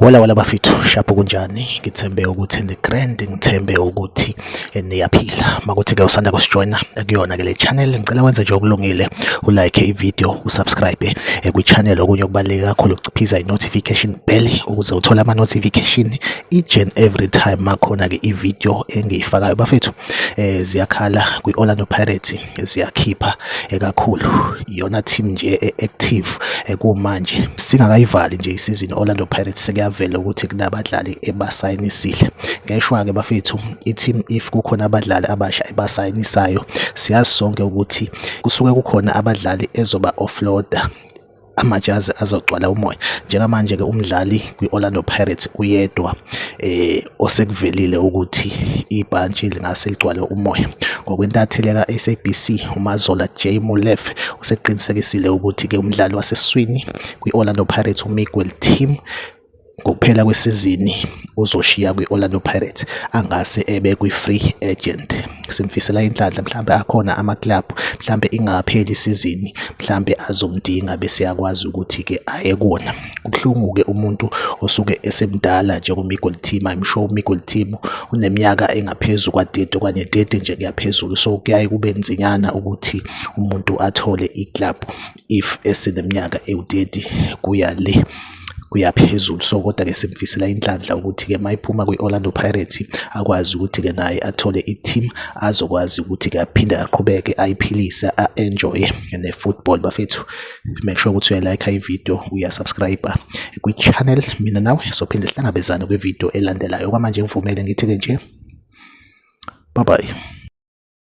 Wala wala bafithu shapho kunjani ngithembe ukuthi ni grand ngithembe ukuthi eh, niyaphila makuthi ke usanda kusijoina eh, kuyona ke le channel ngicela wenze nje okulungile u like i video u subscribe eh, kwi channel okunye okubaluleke kakhulu ukuciphiza i notification bell ukuze uthole ama notification each and every time makhona ke ivideo engiyifakayo bafethu eh ziyakhala kwi Orlando Pirates ziyakhipha eh, kakhulu iyona team nje eh, active eh, kumanje singakayivali nje isizini Orlando Pirates sekuyavela ukuthi kunabadlali ebasayinisile ngeshwa ke bafethu i team if kukhona abadlali abasha ebasayinisayo siyazi sonke ukuthi kusuke kukhona abadlali ezoba offloader amajazi azogcwala umoya njengamanje ke umdlali kwi-Orlando Pirates uyedwa eh osekuvelile ukuthi ibhantshi lingase ligcwale umoya ngokwentatheli ka-SABC uMazola J Mulef useqinisekisile ukuthi ke umdlali waseswini kwi-Orlando Pirates uMiguel Timm Ngokuphela kwesizini uzoshiya kwi-Orlando Pirates angase ebe kwi-free agent. Simfisela inhlanhla mhlawumbe akhona amakilabhu mhlawumbe ingakapheli isizini mhlawumbe azomdinga bese yakwazi ukuthi-ke aye kuwona. Kubuhlungu-ke umuntu osuke esemdala njengo-Miguel Timo, I'm sure u-Miguel Timo uneminyaka engaphezu kwa-thirty okanye thirty nje kuyaphezulu. So, kuyaye kube nzinyana ukuthi umuntu athole ikilabhu. if eseneminyaka ewu-30 kuya le kuya phezulu so kodwa-ke simfisela inhlanhla ukuthi-ke uma iphuma kwi-orlando pirates akwazi ukuthi-ke naye athole i-team azokwazi ukuthi-ke aphinde aqhubeke ayiphilise a-enjoye ne-football bafethu make sure ukuthi uyalayikha ividiyo uyasubscribe kwi-channel mina nawe sophinde sihlangabezane kwividiyo elandelayo kwamanje ngivumele ngithi-ke nje bye bye